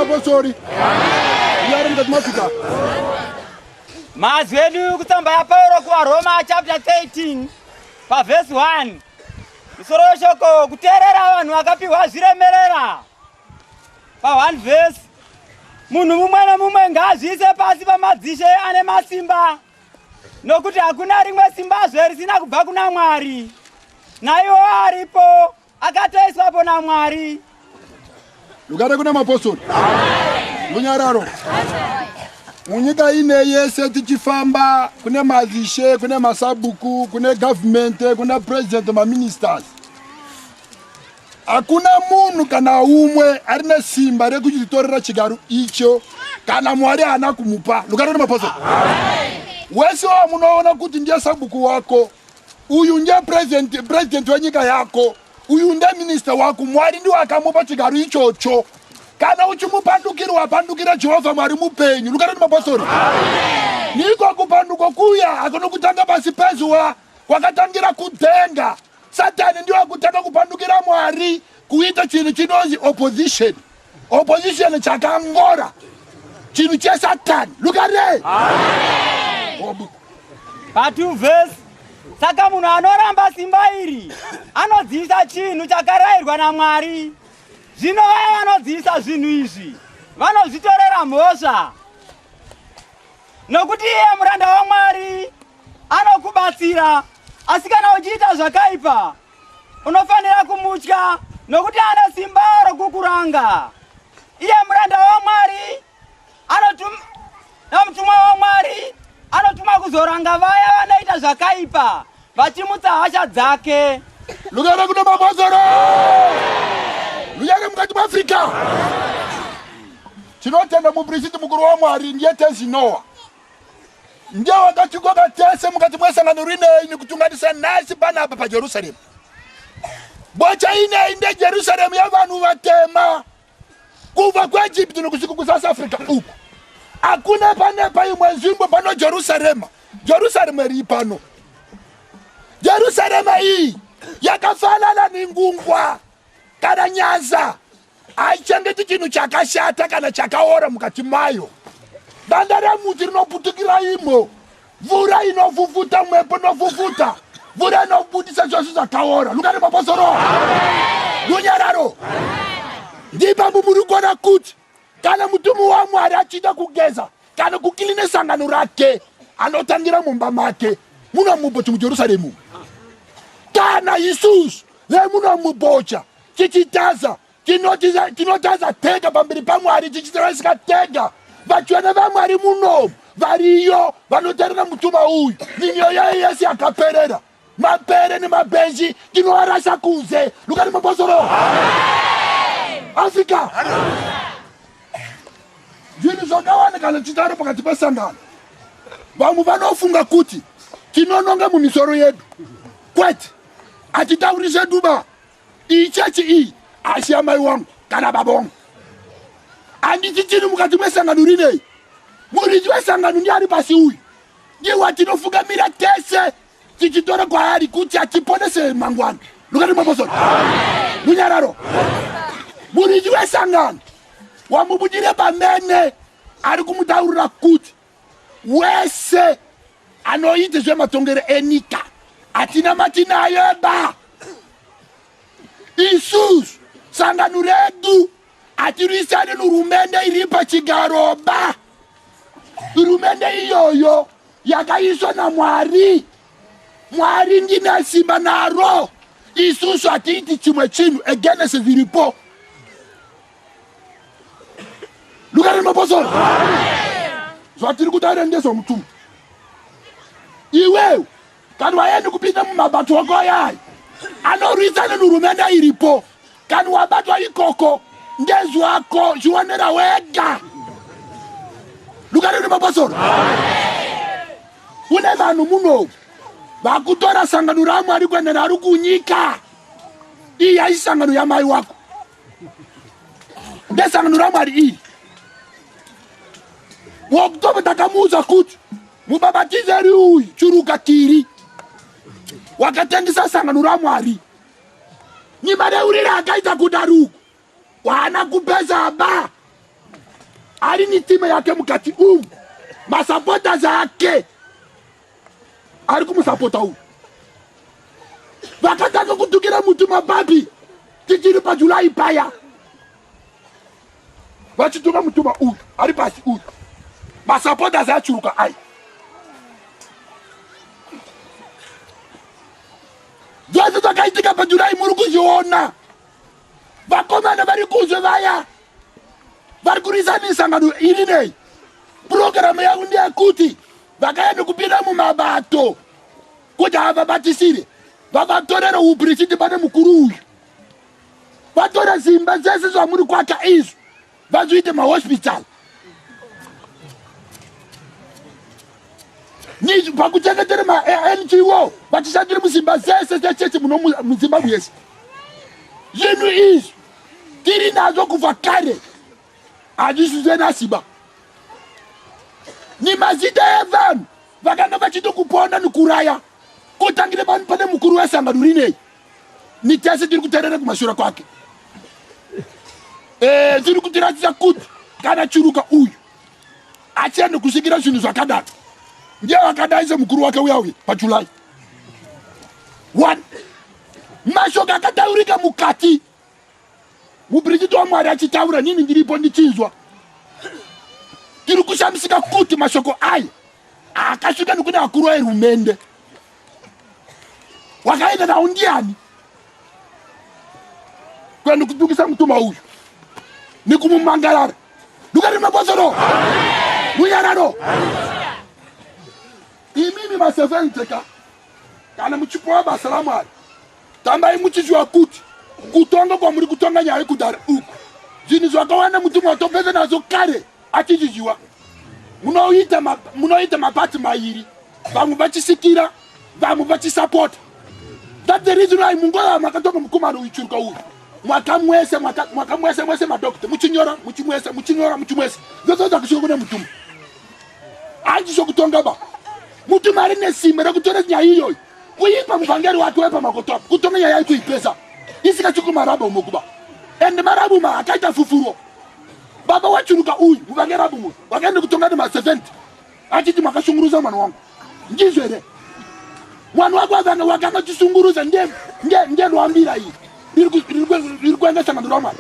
mapostori yari mukati mafika mazwi edu kutsamba yapauro kuvaroma chapter 13 pavhesi 1 musoro weshoko kuteerera vanhu vakapiwa zviremerera pa 1 vhesi munhu mumwe nemumwe ngaazviise pasi pamadzishe ane masimba nokuti hakuna rimwe simbazve risina kubva kuna mwari naiwo aripo akatoiswapo namwari lukare kuna mapostori munyararo munyika ine yese tichifamba kune mazishe kune masabuku kune gavhumente kuna purezidenti maministers Hakuna munhu kana umwe ari nesimba rekuchitorera chigaro icho kana Mwari haana kumupa. Lukana nemaposa wese wamunoona kuti ndiye sabhuku wako uyu ndiye president, president wenyika yako uyu ndiye minista wako, Mwari ndiwo akamupa chigaro ichocho. Kana uchimupandukirwa pandukira Jehovha Mwari mupenyu. Lukana nemapostori niko kupanduko kuya akunokutanga pasi pezuva kwakatangira kudenga Satani ndiye akutanga kupandukira Mwari kuita chinhu chinonzi opposition. Opposition chakangora chinhu chesatani. Look at it. Amen. But you verse saka munhu anoramba simba iri anodzivisa chinhu chakarayirwa namwari zvino vaya vanodzivisa zvinhu izvi vanozvitorera mhosva nokuti iye muranda wamwari anokubatsira Asi kana uchiita zvakaipa, unofanira kumutya, nokuti ane simba rokukuranga. Iye muranda waMwari anotuma namutumwa waMwari anotuma kuzoranga vaya vanoita zvakaipa vachimutsa hasha dzake. Lugare kuno mabhozoro. Lugare mukati maAfrica. Tinotenda mupristi mukuru waMwari ndiye Tenzi Noah. ndiye wakatikoka tese mukati mwesangano rinei nikutunganisa nhasi panapa pajerusaremu bocha inei ndejerusaremu yevanhu vatema kubva kuegipti nokusvika kusouth africa uku hakuna pane paimwe nzvimbo pano jerusarema jerusarema rii pano jerusarema iyi yakafanana nengungwa kana nyanza haichengeti chinhu chakashata kana chakaora mukati mayo danda remuti rinoputukira imo mvura inofufuta mwepo inofufuta mvura inobudisa zvose zvakaora lukani maposoro runyararo ndipambo muri kuona kuti kana mutumbi wamwari achiita kugeza kana kukiline sangano rake anotangira mumba make muno muboti mujerusaremu kana isusu vemuno mubocha Tichitaza, tinotiza, tinotaza tega pamberi paMwari, tichitarisika tega. Vatsvene vaMwari munomu variyo vanotarira mutumba uyu nemyoyo yayo yese yakaperera. Mapere nemabenji tinoarasa kunze. Luka nemabosoro. Africa. Zvinhu zvakawanda kana tichitaura pakati pesangano. Vamwe vanofunga kuti tinononga mumisoro yedu. Kwete, hatitauri zvedu ba. iyi chechi iyi asi yamai wangu kana baba wangu handiti chiri mukati mesangano rinei muridzi wesangano ndiani pasi uyu ndiwa tinofungamira tese tichitora kwaari kuti atiponese mangwana lukati mwaposona munyararo muridzi wesangano wamubudire pamene ari kumutaurira kuti wese anoita zvematongero enyika hatina mati naye ba isusu sangano redu hatirwisane nehurumende iri pachigaro ba hurumende iyoyo yakaiswa namwari mwari ndine simba naro isusu hatiiti chimwe chinhu egenese zviripo lukare maposoro zvatiri kutaura ndezvomutumbi iwewe kana waende kupinda mumabato ako ayayi anorwisana nehurumende iripo kana wabatwa ikoko ndezvako zvionera wega lukare nemaposoro une vanhu munou vakutora sangano ramwari kuenda naro kunyika iyi haisi sangano yamai wako ndesangano ramwari iyi wakutobe takamuudza kuti mubabatizeri uyu churuka tiri wakatengesa sangano ramwari nimareurire akaita kuti ari uku waana kupeza ba ari nitime yake mukati umu masapotas ake ari kumusapota uyu vakatanga kutukira muti mababi tichiri pajulai paya vachituka mutuma uyu ari pasi uyu masapotas achuruka ai zvese zvakaitika pajulai muri kuzviona vakomana vari kuzve vaya vari kurisa misangano iri nei purogiramu yangu ndeyekuti vakaya nekupinda mumabato kuti havabatisire vavatorere uprichiti pane mukuru uyu vatore zimba dzese zvamuri kwaka izvo vazviite mahospital pakuchengetera mango vachishandira muzimba zese dzechechi muno muzimbabwe yese zvinhu izvi tiri nazvo kubva kare Hazvisise nasimba ni mazita ya vanhu vakanga vachiti kuponda ni kuraya kotangire pano pane mukuru wesangano rinei ni tese tiri kuterera kumashura kwake e, tiri kutiratidza kuti kana churuka uyu achiende kusvikira zvinhu zvakadaro ndiye vakadai semukuru wake uya uye pajulai one mashoko akataurika mukati Mupirikiti waMwari achitaura nini ndiripo ndichinzwa. Tiri kushamisika kuti mashoko aya akasvika nekune vakuru verumende. Wakaenda nawo ndiani? Kuenda kudukisa mutuma uyu nekumumangarara. Dukani mabosoro. Munyararo. Imimi masevenzi ka. Kana muchipowa basa raMwari, tambai muchiziva kuti kutonga kwamuri kutonga nyaya yekudhara uku zvinhu zvakawanda mutumwa watopedza nazvo kare achichiziva. Munoita ma, munoita mapati mairi, vamwe vachisikira, vamwe vachisapota. That's the reason why mungoya makatonga mukomana uyu churuka uyu mwakamwese mwakamwese mwese madokita muchinyora muchimwese muchinyora muchimwese zvozoza kusvika kune mutumwa hanzi sokutonga ba muti mari nesimba rekutora nyaya iyoyi kuipa muvhangeri wake wepamakoto apo kutonga nyaya yayi kuipesa isikachiko marabha umo kuba ende marabha umo akaita fufuro baba wachuruka uyu muvhangeri apo umo wakaenda kutonga nemaseventi achiti makashunguruza mwana wangu ndizvo here mwana wako akanga wakanga chisungurudza ndelwambira iyi riri kuenda sangano ramwana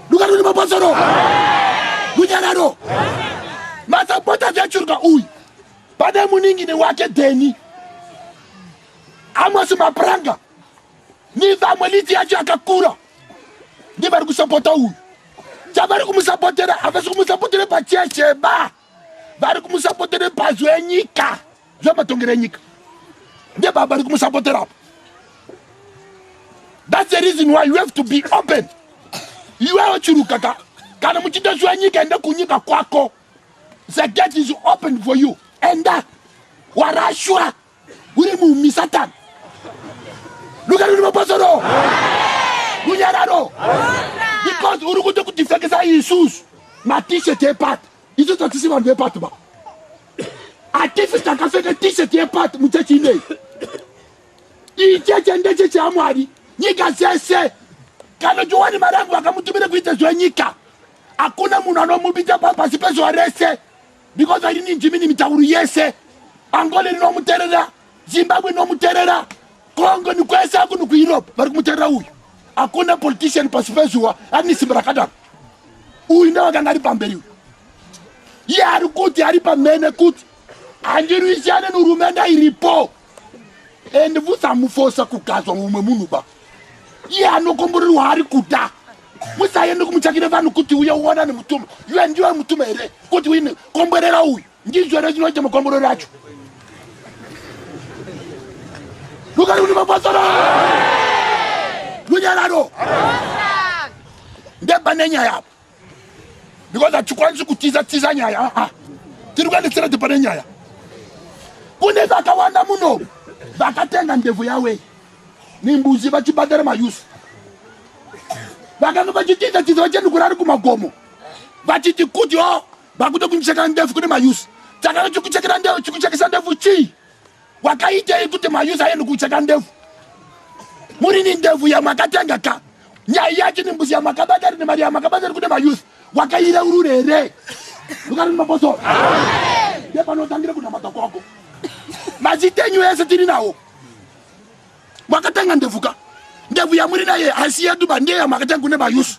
lukaro ni mabasaro lunyararo masapota zyachuruka uyu pane muningini wake deni amosi mapranga ni vamwe liti yacho yakakura ndivari kusapota uyu chavari kumusapotera havasi kumusapotera pachecheba vari kumusapotera bazu enyika zvematongero enyika ndebaba vari kumusapotera apo thats the reason why you have to be open iwewo chiruka ka kana muchida zviwa nyika enda kunyika kwako the gate is open for you enda warashwa Uri mumi Satan. Look at the pasoro. Munyararo. Because uri kuda kudefekesa isusu ma t-shirt epati. Isu tatisi vanhu vepati ba. Atifi takapfeka t-shirt yepati muchechi ineyi. Iyi chechi ndechechi yaMwari. Nyika dzese kana Johani Marangu vakamutumira kuita zvenyika hakuna munhu anomubita pasi pezuva rese because I didn't jimini mitauro yese angole rinomuterera zimbabwe inomuterera kongo nikwese akuno kueurope vari kumuterera uyu hakuna politician pasi pezuva arini simba rakadaro uyu ndevakanga ari pamberi uyu iye ari kuti ari pamene kuti handirwisane nehurumende iripo and musamufosa kugadzwa mumwe munhu ba iye anokomborerwa ari kuda musaende kumutsvakire vanhu kuti uye uona nemutuma iwe ndiwe mutuma here kuti uine komborera uyu ndizvo here chinoita makomborero acho lukari kuti mapasora lunyararo ndebane nyaya apo because hatikwanisi kutiza tiza nyaya aa ah, ah. tiri kuendesera ti pane nyaya kune vakawanda muno vakatenga ndebvu yawe nembuzi vachibhadhara mayusi vakanga vachitiza tiza vachenukura ari kumagomo vachiti kuti o oh, vakuda kundichekera ndebvu kune mayusi takanga chikuchekera ndebvu chikuchekesa ndebvu chii Wakaitei kuti mayuza yenu kucheka ndevu? Muri ni ndevu yamakatenga ka? Nyaya yacho ni mbuzi yamakabata ri ni mari yamakabata ri kune mayuza. Wakaira urure here? Lukari ni maposo. Ndepanotangira kunamata kwako. Mazitenyu ese tiri nawo. Mwakatanga ndebvu ka. Ndebvu yamuri naye haisi yedu ba ndeye yamakatanga kune mayusu.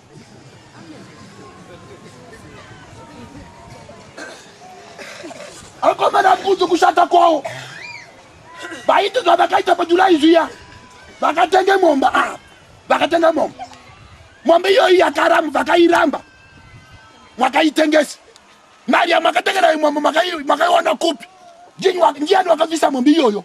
Akomana kudzo kushata kwawo. Vaiti zvavakaita paJuly zviya. Vakatenge momba ah. Vakatenge momba. Momba iyoyi yakaramba vakairamba. Mwakaitengesa. Mari yamakatengera imwe makaiona kupi? Ndiani wakabvisa momba iyoyo?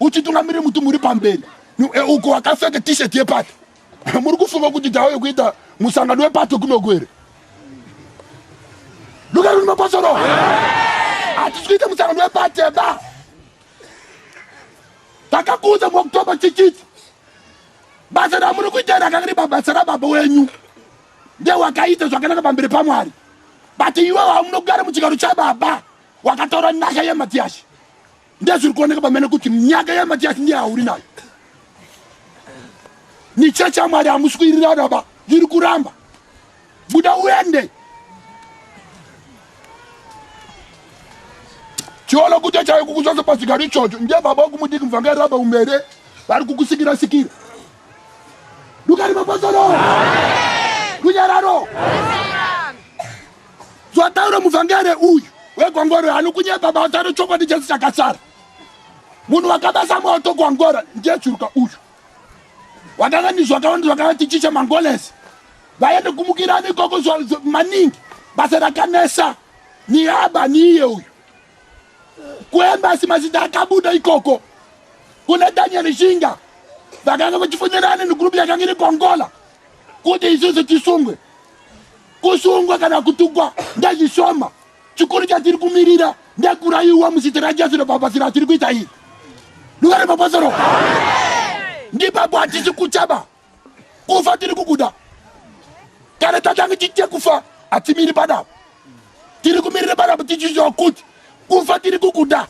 uchitungamirira mutumbi uri pamberi e, uko wakapfeka t-shirt yepato muri kufunga kuti tauye kuita musangano wepato kunoku here lukari uri mapasoro hatisi kuita musangano wepato eba takakuudza muoktoba chichiti basa ramuri kuita rakanga riri pabasa rababa wenyu ndewakaita zvakanaka pamberi pamwari but iwe wamunogara muchigaro chababa wakataura nasha yematiyasha Ndezviri kuoneka pamene kuti nyaka yaMatiasi ndiye auri nayo. Ni church ya Mwari hamusi kuirira baba, ndiri kuramba. Buda uende. Chiolo kuti chayo kukuzosa pasigari ichocho ndiye baba wokumudiki mvanga raba umere vari kukusikira sikira. Dukari mapasoro. Kunyararo. Zvataura muvhangeri uyu wegwangwaro anokunyepa basa rechokwadi chese chakasara. Munhu wakabasa moto gwangwara ndiye churuka uyu. Wakanganizwa wakawanda zvakavati chicha mangolesi. Vaende kumukirani ikoko maningi basa rakanesa niyaba niye uyu. Kuembasi mazita akabuda ikoko kuna Daniel Shinga vakanga vachifunirana negrupu yakanga iri kuAngola kuti isusu tisungwe kusungwa kana kutukwa ndezvishoma chikuru chatiri kumirira ndekuraiwa muzita rajesu rebhabhasi ratiri kuita iyi duka remabhasoro ndipapo hatisi kuchaba kufa tiri kukuda kana tatange chiite kufa hatimiri padapo tiri kumirira padapo tichiziva kuti kufa tiri kukuda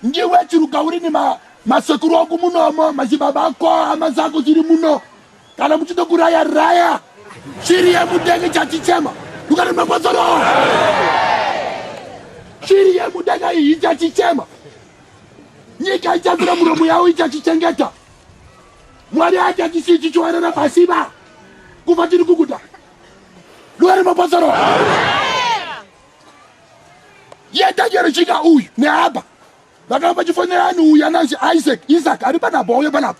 Ndiwe chiruka uri ni ma, masekuru aku munomo machibaba ako hama zako chiri muno kana muchito kuraya raya shiri yemudenga chachichema dukani mapasoro shiri yemudenga iyi ichachichema nyika ichazira muromo yawo ichachichengeta mwari achachisi chichiwarana pasiba kuva tiri kukuda dukani mapasoro yetanyero chika uyu neabha vakanga vachifonera anhu uyu ananzi isaac isaac ari panapa wauye panapa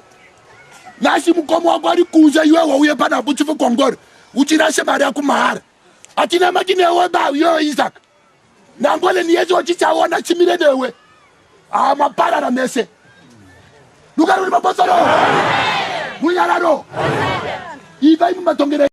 nasi mukoma wako ari kunze iwe wauye panapa uchife kwangori uchirashe mari yako mahara atina mati newe ba yo isaac nangole niyese wachichaona chimire newe haa maparara mese lukaruri mapasaro munyararo ivai mumatongera